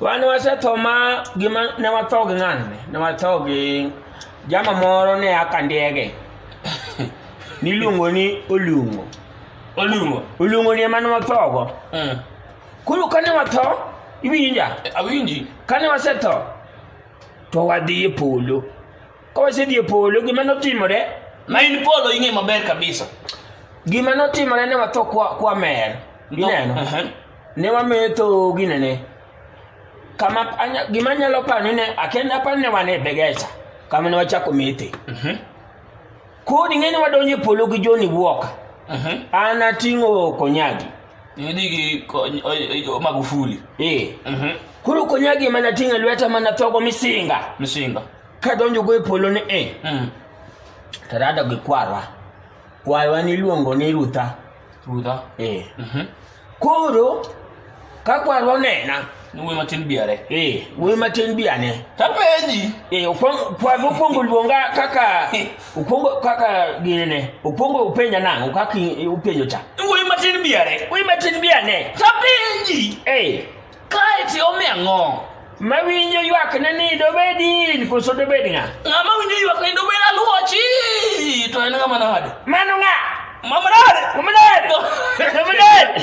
wan wasetho ma gima ne watho gi ng'ano ne ne watho gi jama moro ne aka ndege niluongo ni olungo olungo olungo ni ema ne wathogo Mm. koro kane watho iwinja awinji kane wasetho to wadhi e polo ka wasedhi e polo gima notimore ma in polo ing'e maber kabisa gima notimore ne watho kwa, kwa mer ineno Ehe. ne wametho ginene kama anya- gima nyalo paro ni ne akenda aparo ni ne wan e begesa kama ne wachako methe Mhm. kodi ng'e ni wadonjo e polo gi joni wuoka Mhm. an ating'o konyagi Nidhi gi ko- o- o- Magufuli. ee Mhm. koro konyagi ema nating'o e lweta ma nathogo misinga Misinga. kadonjogo e polo ni e Mm. tarada gi kwarwa Kwaywa niluongo ni Rutha. Rudha. Eh. Mhm. Koro ka kwarwa onena, Ni wuoyi matin biare. eh, wuoyi matin bi ane. Tapenji. Eh, okwong- kwarwa okwongo luonga kaka okwongo kaka gini ne. Okwongo openja nang'o kaka i- openjo cha. Ni wuoyi matin biare. Wuoyi matin bi ane. Tapenji. Eh, Kae to iome ang'o? Mawinjo ywakne ni dobed in koso dobed ng'a? Ng'ama winjo ywakne ni dobed aluochi to en ng'ama nade? Mano ng'a? Mama nade? Mama nade? Mama nade?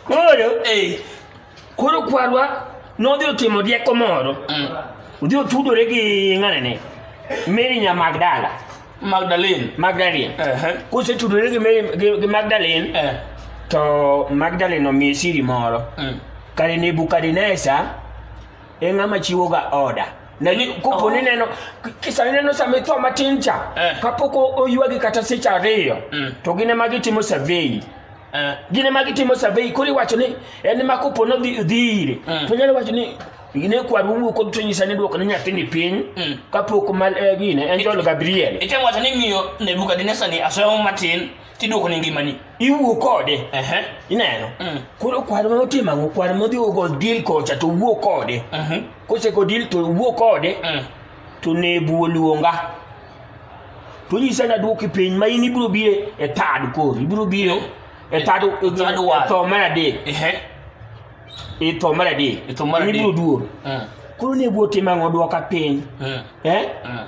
Koro, eh, koro kwarwa nodhi otimo rieko moro. Mm. Odhi otudore gi ng'anene Mary Nyamagdala. Magdalene. Magdalene. Ehe. Kosetudore gi Mary gi, gi Magdalene Eh. to Magdalene omiye siri moro. Mm. Kare Nebukadneza e ng'ama chiwoga oda. Na ni kopo ni Oh. neno kisa neno sama itho matin cha Eh. kapok o- oywagi kata seche ariyo Mm. to gine ma gitimo survey. Eh. Gine ma gitimo survey koro iwacho ni en ma kopo nodhi dhi ire Mm. to nyalo wacho ni gine kwar wuwu kod to nyisa ni dwoko ne nyathini piny mm. kapok mal eh, gine en jolo gabriel item wacho ni miyo nebukadnesa ni asomo matin tidwoko ne ngimani iwuo kode ineno mm. koro kwar ma otimo ang'o kwar ma odhi ogo dil kocha to wuo kode mhm. kosego dil to wuo kode mm. to nebu oluonga to nyisa na dwoki piny ma in ibiro biro e tad koro ibiro biro e tad e tho mar adek itho mar adek Itho mar adek. ibiro duogo Mm. koro ne bwo tim ang'o dwoka piny Mm. eh? Mm.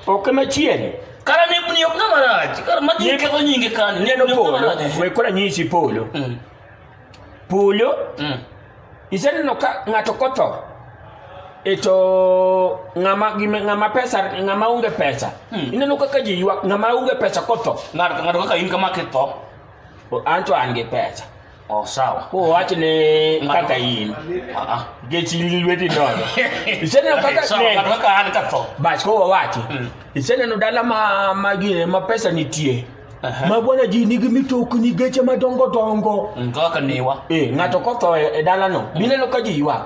ok machiel kara nebni ok ng'ama rach kara ma Neb- nyinge onyinge kanyo neno nebni ok ng'ama polo rach we kora nyisi polo Mm. polo Mm. iseneno ka ng'ato kotho e to ng'ama gime- ng'ama pesa ng'ama onge pesa Hmm. ineno kaka ji ywak ng'ama onge pesa kotho ng'ato ng'ato kaka in kama kitho O- an to an gi pesa Oh, sawa. Ko wach ni kaka in. Ah, ah. Gechi lweti nono. Iseneno kaka Sawa, ne. kata kaka an katho. Bas ko wawachi. Iseneno dala ma ma gine ma pesa nitie. Aha. Ma bwana ji nigi mitokni geche madongo dongo. Mm, Kaka niwa. Eh, ng'ato kotho e e dalano. Bineno ka ji ywak.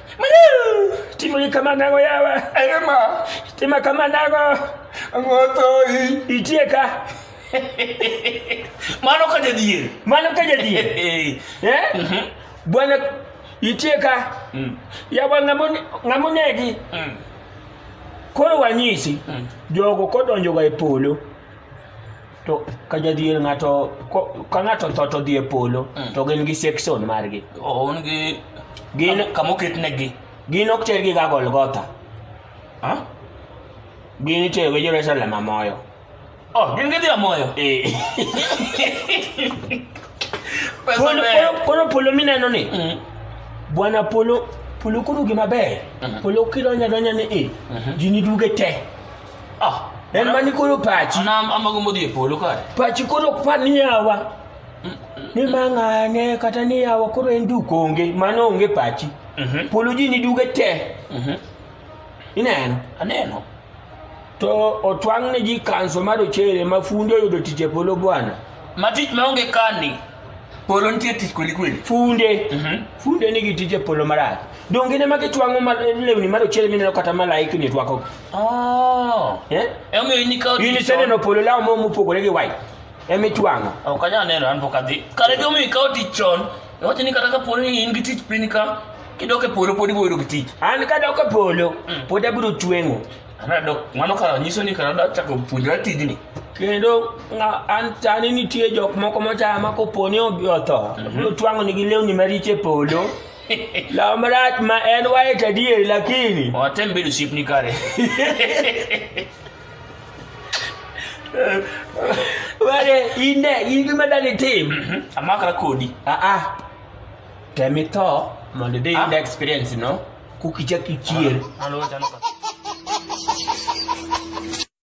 Timuli kama nago yawa. Ema. Tima kama nago. Ngotoi. Itie ka. Mano ka jadhier. Mano ka jadhier. Eh? Mhm. Bwana itie ka. Mm. Yawa ngamonegi. Mm. Koro wanyisi mm. jogo kodonjoga e polo. to ka jadhier ng'ato ko- ka ng'ato tho to dhi e polo Mm. to gin gi section margi oon gi Gin- kam- kama oketnegi gin ok tergi ga golgotha Ah? gin iterogi jerusalem amoyo oh gin gidhi amoyo Eh. pesa Polo- ber polo- polo polo mineno ni Mm. bwana polo polo koro gima ber Mhm. polo kidonja donja ni e Mhm. ji niduge te Ah, en mani koro pachi ana amago modhi e polo kare pachi koro ok par ni yawa ni mang'ane kata ni yawa koro en duk onge mano onge pachi Mhm, polo ji ni duge te mhm. ineno aneno to otwang' ne ji kanso mar ochere ma funde oyudo tich e polo bwana ma tich maonge kani polo nitie tich kweli kweli funde Mhm. funde nigi tije polo marach donge ne ma gitwang'o ma- lewni marochere mineno kata malaikni twako Oh. eh? emomiyo in ikawo in tich iseneno polo law mo mopogore gi white emitwang'o chon. ok anyal neno an pok adhi kare gimomiyo ikawo tich chon iwacho ni kata kaponi ni in gi tich piny ka kidok e polo pod iboyudo gi tich an kadok e polo Mm. pod abiro tweng'o Anadok, mano kara nyiso ni kara chako puonjra tijni. Kendo nga an tani nitie jok moko mochaya ma koponi obi otho. Mm -hmm. Twang'o nigi lewni mariche polo. Law marach ma en white adier lakini. Watem bedo ship ni kare. Wale inde inde madani team. Mm -hmm. Amaka kodi. Ah ah. Temi to mondo de ah. experience no. kukicha kichier. Maluwo chano ka.